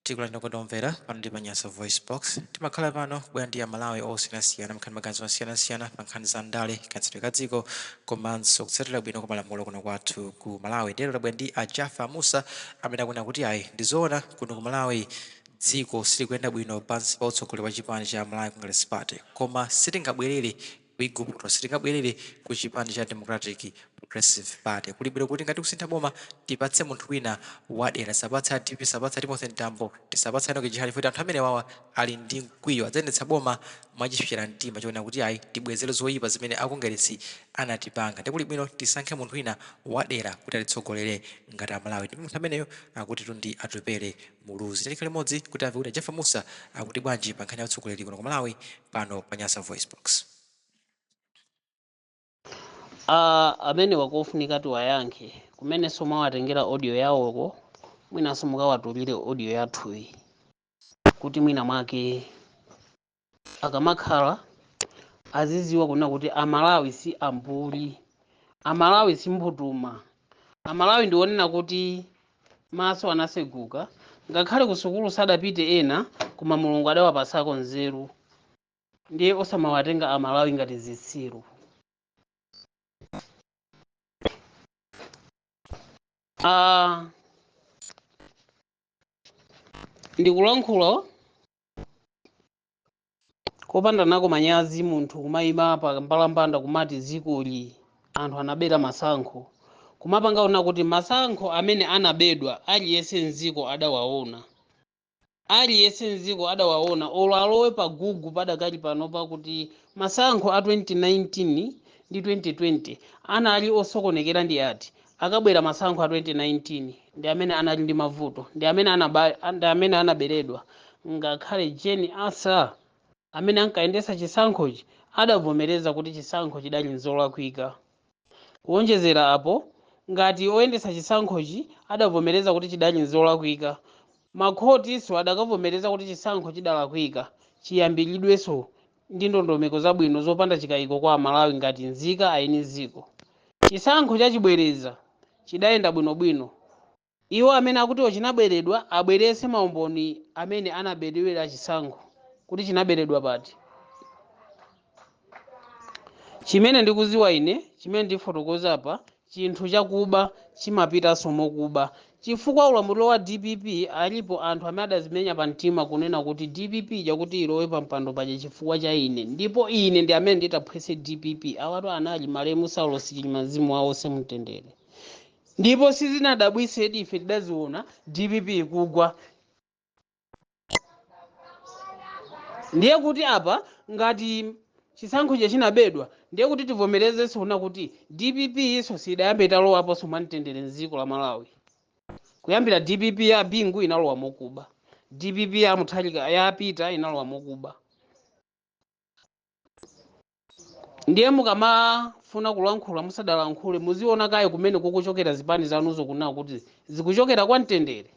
Tikulandireni okondedwa omvera pano ndi pa Nyasa Voice Box. Timakhala pano kubwera ndi Amalawi osiyanasiyana kumva maganizo osiyanasiyana pa nkhani za ndale, kayendetsedwe ka dziko komanso kutsatira bwino kwa malamulo kuno kwathu ku Malawi. Ndiye lero tabwera ndi a Jaffa Musa amene akunena kuti ayi ndi zoona kuno ku Malawi dziko silikuyenda bwino pansi pa utsogoleri wa chipani cha Malawi Congress Party koma sitingabwerere ku Iguputo sitingabwerere ku chipani cha Democratic Progressive Party. Kuli bwino kuti ngati kusintha boma tipatse munthu wina wadera. Tisapatse a dpp, tisapatse a Timothy Mtambo, tisapatse a Enock Chihana chifukwa anthu amenewawa ali ndi mkwiyo. Adzayendetsa boma mwachipsera mtima chonena kuti ayi tibwezere zoyipa zimene a Kongeresi anatipanga. Ndiye kuli bwino tisankhe munthu wina wadera kuti atitsogolere ngati Amalawi. Ndipo munthu ameneyo akutitu ndi Atupele Muluzi. Tiyeni limodzi kuti timve kuti a Jaffa Musa akuti bwanji pa nkhani ya utsogoleri kuno ku Malawi pano pa Nyasa Voice Box. Ah, amenewa akufunika tiwayankhe kumenenso mwawatengera audio yawoko mwinanso mukawatulire audio yathuyi kuti mwina mwake akamakhala aziziwa kunena kuti amalawi si ambuli amalawi si mbutuma amalawi ndi onena kuti maso anaseguka ngakhale kusukulu sadapite ena koma mulungu adawapasako nzeru ndiye osamawatenga amalawi ngati zitsiru ah, ndikulankhula kopanda nako manyazi munthu kumayima pa mbalambanda kumati dziko ili anthu anabera masankho kumapanga zoona kuti masankho amene anabedwa aliyense mdziko adawaona aliyense mdziko adawaona olo alowe pa Google padakali pano pakuti masankho a 2019 ndi 2020 anali osokonekera ndi ati Akabwera masankho a 2019 ndi amene anali ndi mavuto ndi amene anaberedwa ngakhale Jane Ansah amene ankayendetsa chisankhochi adavomereza kuti chisankho chidali n'zolakwika. Kuonjezera apo, ngati oyendetsa chisankhochi adavomereza kuti chidali n'zolakwika, makhotinso adakavomereza kuti chisankho chidalakwika chiyambiridwenso ndi ndondomeko zabwino zopanda chikaiko kwa Amalawi ngati nzika aeni dziko. Chisankho cha chibwereza chidayenda bwinobwino. Iwo amene akutio chinaberedwa abweretse maumboni amene anaberedwera chisankho kuti chinaberedwa pati. Chimene ndikudziwa ine, chimene ndifotokoze apa chinthu chakuba chimapitanso mokuba chifukwa ulamuliro wa dpp alipo anthu amene adazimenya pa mtima kunena kuti dpp ija kuti ilowe pa mpando paja chifukwa cha ine ndipo ine ndi amene nditaphwetse dpp awatu anali malemu saulos chilima mzimu wawo uuse mumtendere ndipo sizinadabwitsedi ife tidaziona dpp ikugwa ndiye kuti apa ngati chisankho chija chinabedwa ndiye kuti tivomerezenso kuna kuti dpp yonso siidayambe italowaponso mwamtendere mdziko la malawi kuyambira dpp ya bingu inalowa mokuba dpp ya muthalika ya peter inalowa mokuba ndiye mukamafuna kulankhula musadalankhule muziona kaye kumene kukuchokera zipani zanuzo kunena kuti zikuchokera kwa mtendere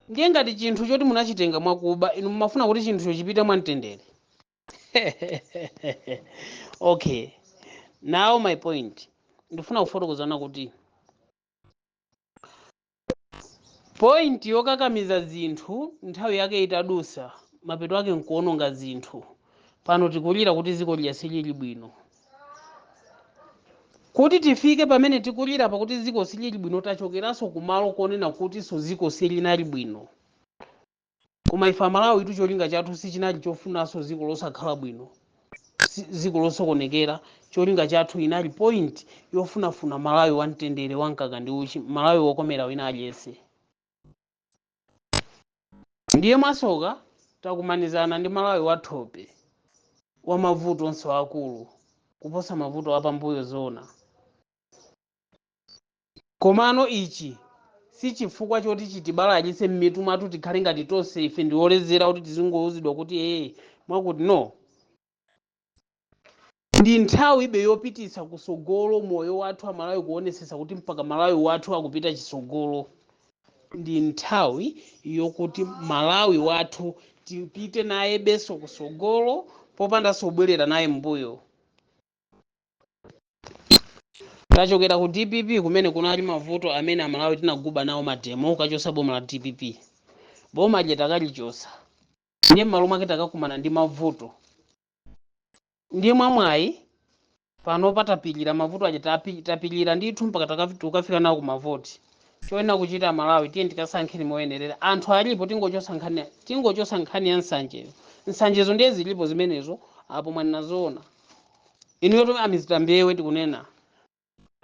ndiye ngati chinthu choti munachitenga mwakuba inu mumafuna kuti chinthucho chipite mwa mtendere okay now my point ndifuna kufotokozana kuti Point yokakamiza zinthu nthawi yake itadusa mapeto ake nkuononga zinthu pano tikulira kuti ziko lija silili bwino kuti tifike pamene tikulira apa kuti ziko silili bwino tachokeranso kumalo konena kutinso ziko silinali bwino Koma ife amalawitu cholinga chathu sichinali chofunanso ziko losakhala bwino ziko losokonekera cholinga chathu inali point yofunafuna malawi wamtendere wamkaka ndi uchi malawi wokomera wina aliyense ndiye mwasoka takumanizana ndi malawi wathope wamavuto onse aakulu kuposa mavuto apambuyo zoona? Komano ichi si chifukwa choti chitibalalitse mmitu mwathu tikhale ngati tonse ife ndi olezera kuti tizingouzidwa kuti ee mwakuti no ndi nthawibe yopititsa kusogolo moyo wathu amalawi kuonesesa kuti mpaka malawi wathu akupita chisogolo ndi nthawi yokuti malawi wathu tipite nayebeso kusogolo popandaso bwelera naye mbuyo tachokera ku dpp kumene kunali mavuto amene amalawi tinaguba nawo mademo kukachosa boma la dpp boma lija takalichosa ndiye mmalo mwake takakumana ndi mavuto ndiye mwamwayi pano patapilira mavuto aja tapi- tapilira ndithu mpaka takafi- tukafika nawo ku mavoti choyenera kuchita amalawi tiye tikasankheni moyenerera anthu alipo tingochosa nkhani tingochosa nkhani ya nsanjeyo nsanjezo ndiye zilipo zimenezo apo mwanena zoona inuyo tome a mister mbewe tikunena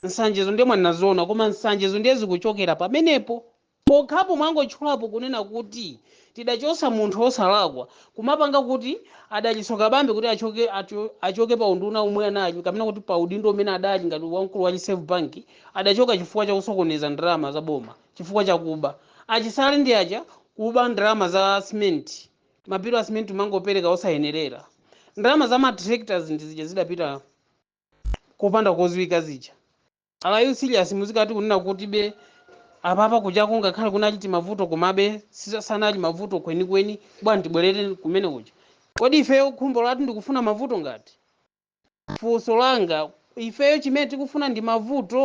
nsanjezo ndiye mwanena zoona koma nsanjezo ndiye zikuchokera pamenepo pokhapo mwangotchulapo kunena kuti tidachosa munthu osalakwa kumapanga kuti a dalitso kabambe kuti achoke, acho- achoke pa unduna umwe anali kapena kuti pa udindo umene adali ngati wamkulu wa reserve bank adachoka chifukwa cha kusokoneza ndalama za boma chifukwa chakuba achisale ndi aja kuba ndalama za simenti ma bill a simenti umangopereka osayenerera ndalama za ma tractors ndi zija zidapita kopanda koziwika zija are you serious muzikati kunena kuti be apapa kujaku ngakhale kunali timavuto komabe sisa- sanali mavuto kwenikweni bwana tibwerere kumene kuja kodi ifeyo khumbo lathu ndikufuna mavuto ngati funso langa ifeyo chimene tikufuna ndi mavuto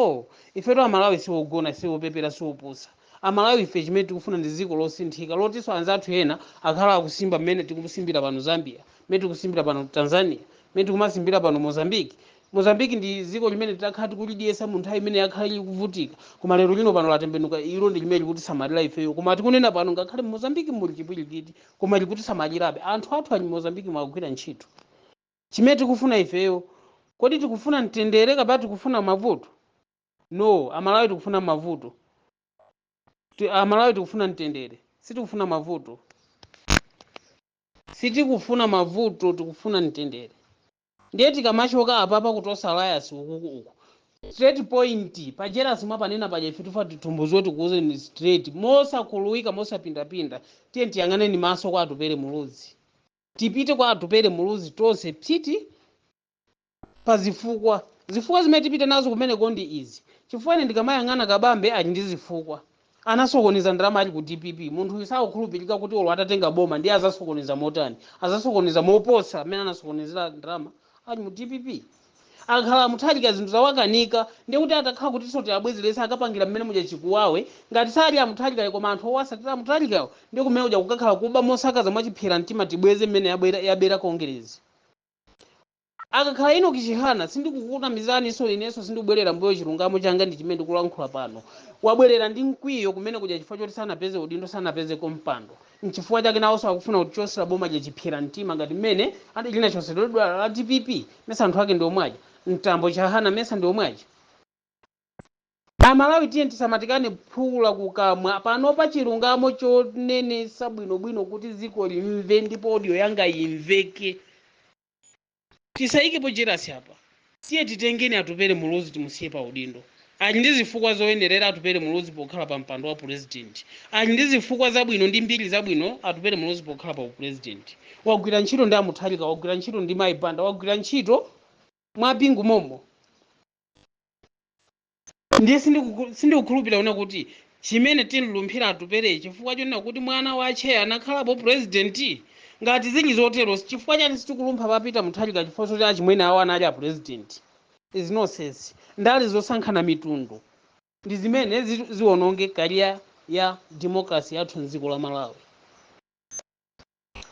ifetu amalawi siogona siopepera siopusa amalawi ife chimene tikufuna ndi dziko losinthika lotinso anzathu ena akhala akusimba mmene tikusimbira pano zambia mmene tikusimbira pano tanzania mmene tikumasimbira pano mozambique mozambique ndi dziko limene tidakhala tikulidyesa mu nthawi imene yakhala likuvutika koma lero lino pano latembenuka ilo ndi limene likutisamalira ifeyo koma tikunena pano ngakhale mu mozambique muli chipwirikiti koma likutisamalirabe anthu athu ali mu mozambique akugwira ntchito Chimene tikufuna ifeyo, kodi tikufuna mtendere kapena tikufuna mavuto? No, Amalawi tikufuna mavuto. Ti- Amalawi tikufuna mtendere, sitikufuna mavuto. Sitikufuna mavuto, tikufuna mtendere. Ndiye tikamachoka apapa ku Tonse alliance ukuku uku. Straight point, pa jealous mwapanena paja ife tufuna titumbuziwe tikuuzeni straight. Mosakuluwika, mosapindapinda. Tiye tiyang'aneni maso kwa Atupele Muluzi. tipite kwa atupele muluzi tonse psiti pa zifukwa zifukwa zimene tipite nazo kumeneko ndi izi chifukwa ine ndikamayang'ana kabambe ali ndi zifukwa anasokoneza ndalama ali ku dpp munthu uyu sakukhulupirika kuti olo atatenga boma ndiye azasokoneza motani azasokoneza moposa mmene anasokonezera ndalama ali mu dpp Akakhala a Mutharika zinthu zawakanika ndiye kuti atakhala kutinso tiabwezeretse akapangira mmene muja chikuwawe, ngati sali a Mutharikayo koma anthu owasatira a Mutharikawo ndiye kumene kuja kukakhala kuba mosakaza mwachiphyera mtima tibweze mmene yabwera, yabera Kongeresi. Akakhala Enock Chihana sindikukunamizaninso inenso sindikubwerera mbuyo chilungamo changa ndi chimene ndikulankhula pano. Wabwerera ndi mkwiyo kumene kuja chifukwa choti sanapeze udindo sanapezeko mpando nchifukwa chake nawonso akufuna kuchosera boma lija chiphyera mtima ngati mmene linachotseredwera la dpp. mesa anthu ake ndi omwe aja mtambo chihana mesa ndi omwe aja amalawi tiye tisamatikane phula kukamwa panopa chilungamo chonenesa bwinobwino kuti dziko limve ndipo audio yanga imveke tisayikepo jerasi apa tiye titengeni atupele muluzi timusiye pa udindo Ali ndi zifukwa zoyenerera Atupele Muluzi pokhala pa mpando wa Pulezidenti. Ali ndi zifukwa zabwino ndi mbiri zabwino Atupele Muluzi pokhala pa upulezidenti. Wagwira ntchito ndi a Mutharika, wagwira ntchito ndi mayi Banda, wagwira ntchito mwa Bingu mommo ndiye sindikukhulupirira kunena kuti chimene tinlumphira Atupele chifukwa chonena kuti mwana wache anakhalapo pulezidenti. Ngati zili zotero, chifukwa chani sitikulumpha pa Peter Mutharika chifukwa choti achimwene awo anali apulezidenti? is nonsense ndale zosankhana mitundu ndizimene zit ziononge career ya democracy yathu mdziko la malawi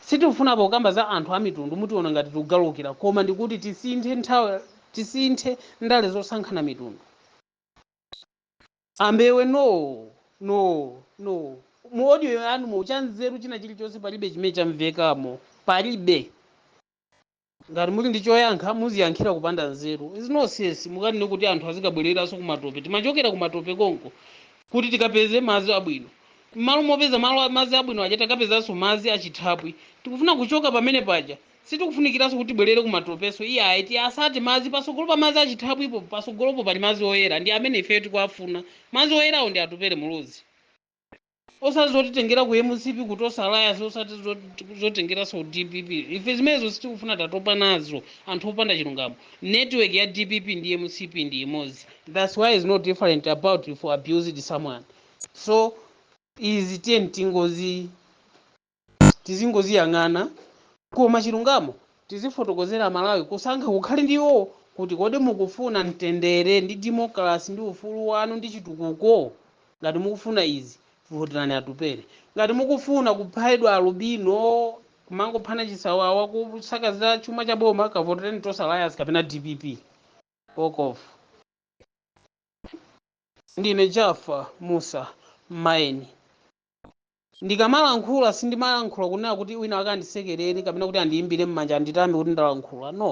sitikufuna pokamba za anthu amitundu mutiona ngati tikugalukira koma ndikuti tisinthe nthawi tisinthe ndale zosankhana mitundu ambewe noo noo noo mu audio yanumo chanzeru china chilichonse palibe chimene chamvekamo palibe Ngati muli ndi choyankha muziyankhira kupanda nzeru is nonsense mukanene kuti anthu azikabwereranso kumatope timachokera kumatope konko kuti tikapeze madzi abwino mmalo mopeza malo a madzi abwino aja takapezanso madzi achithapwi tikufuna kuchoka pamene paja sitikufunikiranso kuti tibwerere kumatopenso iyayi tiasake madzi patsogolo pa madzi achithapwipo patsogolopo pali madzi oyera ndi amene ifeyo tikuafuna madzi oyerawo ndi Atupele Muluzi osati zotitengera ku mcp ku tonse alliance osati zot- zotengeranso dpp ife zimenezo sitikufuna tatopa nazo anthu opanda chilungamo network ya dpp ndi mcp ndi imodzi thats why is no different about if you abused someone so izi tiyeni tingozi tizingoziyang'ana koma chilungamo tizifotokozera amalawi kusankha kukhale ndi iwowo kuti kodi mukufuna mtendere ndi democracy ndi ufulu wanu ndi chitukuko ngati mukufuna izi voterani atupele ngati mukufuna kuphedwa alubino kumangophana chisawawa kusakaza chuma cha boma kavotereni tonse alliance kapena dpp walk off ndine jaffa musa maeni Ndikamalankhula sindimalankhula kunena kuti wina wake andisekerere kapena kuti andiimbire mmanja anditame kuti ndalankhula no.